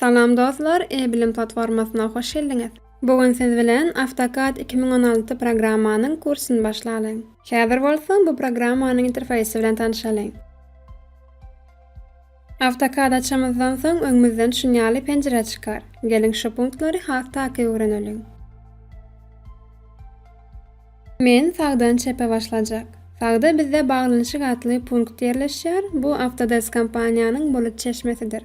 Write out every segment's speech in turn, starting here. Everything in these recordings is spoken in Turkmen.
Salam dostlar E-bilim platformasyna hoş geldiňiz. Bu gün siz bilen AutoCAD iki müň on alty programmanyň kursyny başlalyň. Häzir bolsa bu programmanyň interfeýsi bilen tanşalyň. Awtokad açamyzdan soň öňümizden şunýaly penjire çykar. Geliň şu punktlary has takyk öwreneliň. Men sagdan çepe başlajak. Sagda bizde Baglanyşyk atly punkt ýerleşýär, bu Autodesk kompaniýanyň bulut çeşmesidir.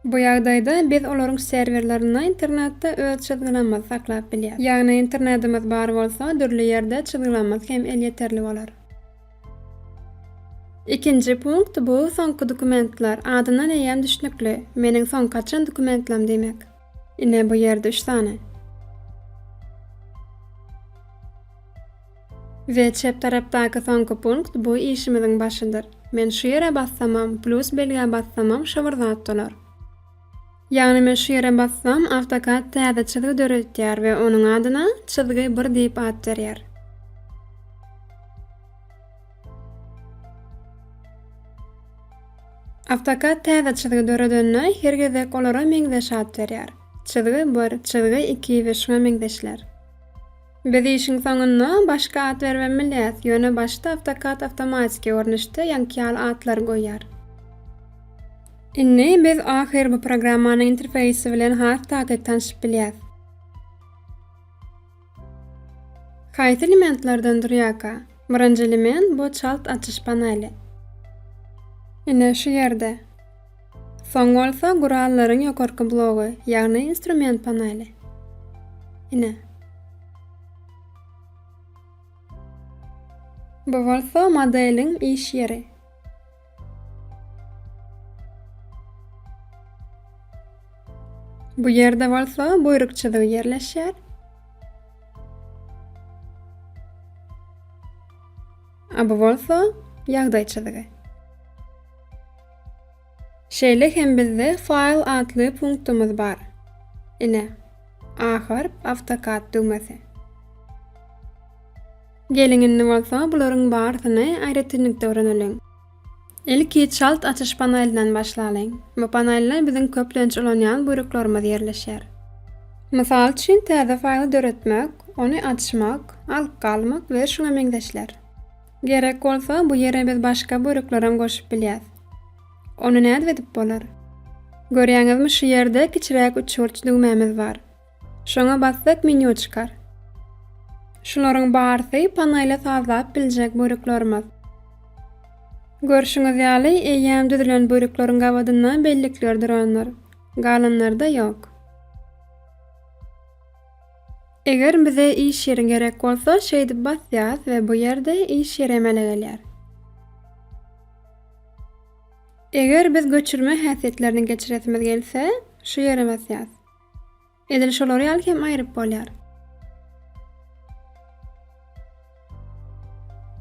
Bu ýagdaýda biz olaryň serwerlerinde internetde öz çyzgylamyzy saklap bilýäs. Ýagny internetimiz bar bolsa dürli ýerde çyzgylamyz hem elýeterli bolar. Ikinji punkt bu soňky dokumentler, adyndan eýýäm düşnükli, meniň soňky açan dokumentlam diýmek. Ine bu ýerde üç sany. We çep tarapdaky soňky punkt bu işimiziň başydyr. Men şu ýere bassamam, plus belgä bassamam şo bir zat dolar. Ýagny men şu ýere bassam AutoCAD täze çyzgy döredýär we onuň adyna Çyzgy bir diýip at berýär. AutoCAD täze çyzgy döredende her gezek olara meňzeş at berýär. Çyzgy bir, çyzgy iki we şuňa meňzeşler. Biz işiň soňunda başga at beribem bilýäs, ýöne başda AutoCAD awtomatiki görnüşde ýaňky ýaly atlary goýýar. Indi biz ahyr bu programmanyň interfeýsi bilen has takyk tanşyp bilýäs. Haýsy elementlerden durýarka? Birinji element bu çalt açyş paneli. Ine şu ýerde. Soň bolsa gurallaryň ýokarky blogy, ýagny instrument paneli. Ine. Bu bolsa modeliň iş ýeri. Bu ýerde bolsa buýruk çyzygy ýerleşýär. A bu bolsa ýagdaý çyzygy. Şeýle hem bizde File atly punktumyz bar. Ine, A harp, AutoCAD düwmesi. Geliň indi bolsa bularyň barysyny aýratynlykda öwreneliň. Ilki çalt açyş panelinden başlalyň. Bu panelde biziň köplenç ulanýan buýruklarymyz ýerleşer. Mysal üçin täze faýly döretmek, ony açmak, alyp galmak we şuňa meňzeşler. Gerek bolsa bu ýere biz başga böleklerem goşup bilýäs. Ony nädip edip bolar? Görýäňizmi şu ýerde kiçiräk uçurç düwmämiz bar. Şoňa bassak menýu çykar. Şularyň barsy panaýla sazlap biljek böleklerimiz. Görşüňiz ýaly eýýäm düzülen bölekleriň gabadynda bellikler durandyr. Galanlarda ýok. Eger bize iş ýeri gerek bolsa şeýdip basýas we bu ýerde iş ýeri emele gelýär. Eger biz göçürme häsiýetlerini geçiresimiz gelse şu ýere basýas. Edil şolar ýaly hem aýryp bolýar.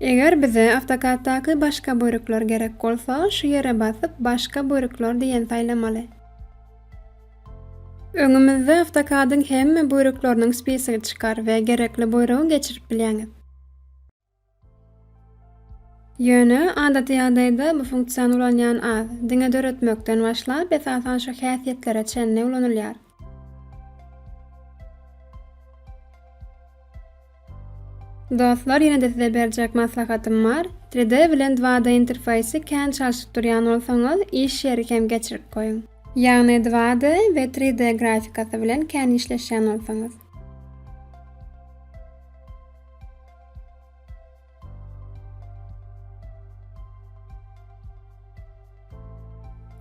Eger bize AutoCAD-daky başga bürükler gerek bolsa, şu ýere basyp Başga bürükler diýen saýlamaly. Öňümizde AutoCAD-yň hemme bürükleriniň spisigi çykar we gerekli buýrugy geçirip bilýäňiz. Ýöne, adaty ýagdaýda bu funksiýany ulanýan az, diňe döretmekden başlap, esasan şu häsiýetlere çenli ulanylýar. Dostlar ýene-de size berjek maslahatym bar, Three D bilen Dwa D interfeýsi kän çalşyp durýan bolsaňyz, iş ýeri hem geçirip goýuň. Ýagny Dwa D we Three D grafikasy bilen kän işleşýän bolsaňyz.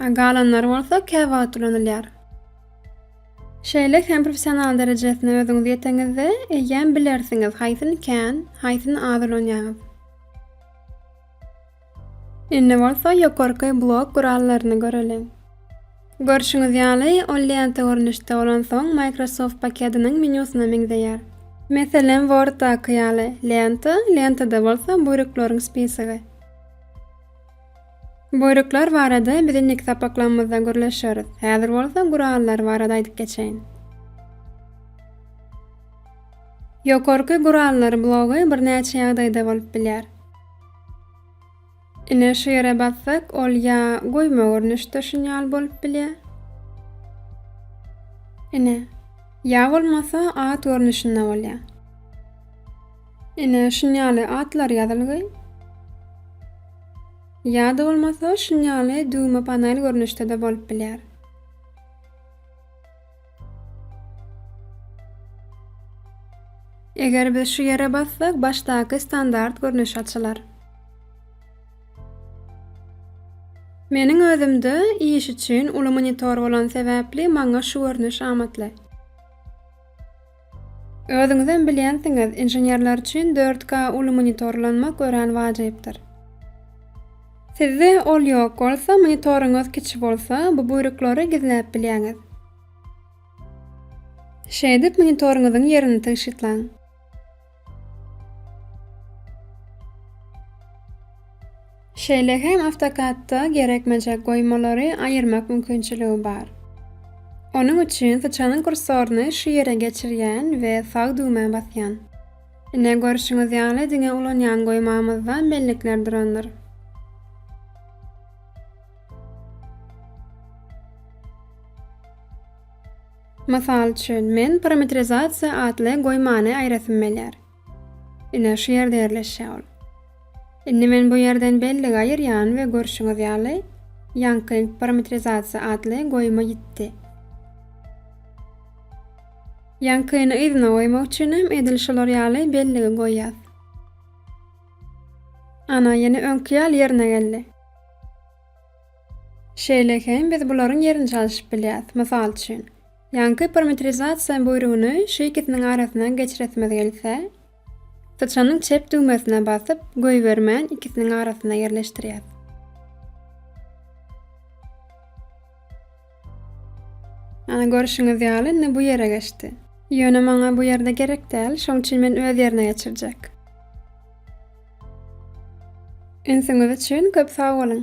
Galanlary bolsa käwagt ulanylýar. Şeýle hem professional derejesine özüňiz ýeteňizde, eýýäm bilersiňiz haýsyny kän, haýsyny az ulanýaňyz. Indi bolsa ýokarky blok gurallaryny göreliň. Görşüňiz ýaly, ol lenta görnüşde bolansoň, Microsoft paketiniň menýusyna meňzeýär. Meselem, Word-daky ýaly, lenta, lentada bolsa buýruklaryň spisigi. Buýruklar barada biz indiki sapaklarymyzda gürleşeris, häzir bolsa gurallar barada aýdyp geçeýin. Ýokarky gurallar blogy birnäçe ýagdaýda bolup bilýär. Ine şu ýere bassak ol ýa goýma görnüşde şunýal bolup bilýär. Ine. Ýa bolmasa at görnüşinde bolýar. Ine şunýaly atlar ýazylgy. Ýa-da bolmasa şunýaly düwme panel görnüşde-de bolup bilýär. Eger biz şu ýere bassak, başdaky standart görnüş açylar. Meniň özümde iş üçin uly monitor bolan sebäpli maňa şu görnüş amatly. Özüňizem bilýänsiňiz, inženerler üçin dört K uly monitorlanmak örän wajypdyr. Sizde ol ýok bolsa, monitoryňyz kiçi bolsa, bu buýruklary gizläp bilýäňiz. Şeýdip, monitoryňyzyň ýerini tygşytlaň. Şeýle hem AutoCAD-da gerekmejek goýmalary aýyrmak mümkinçiligi bar. Onuň üçin syçanyň kursoryny şu ýere geçirýän we sag düwmä basýan. Ine görşüňiz ýaly diňe ulanýan goýmamyzda bellikler durandyr. Mysal üçin, men parametrizasiýa atly goýmany aýrasym gelýär. Ine, şu ýerde ýerleşýär ol. Indi men bu ýerden belligi aýyrýan we görşüňiz ýaly, ýaňky parametrizasiýa atly goýma ýitdi. Ýaňkyny yzyna goýmak üçin hem edil şular ýaly belligi goýýas. Ana, ýene öňki ýaly ýerine geldi. Şeýle hem biz bularyň ýerini çalşyp bilýäs. Mysal üçin, ýaňky parametrizasiýa buýrugyny şu ikisiniň arasyndan geçiresimiz gelse, syçanyň çep düwmesine basyp, goýbermän ikisiniň arasynda ýerleşdirýäs. Ana, görşüňiz ýaly, indi bu ýere geçdi. Ýöne maňa bu ýerde gerek däl, şoň üçin men öz ýerine geçirjek. Ünsüňiz üçin köp sag boluň!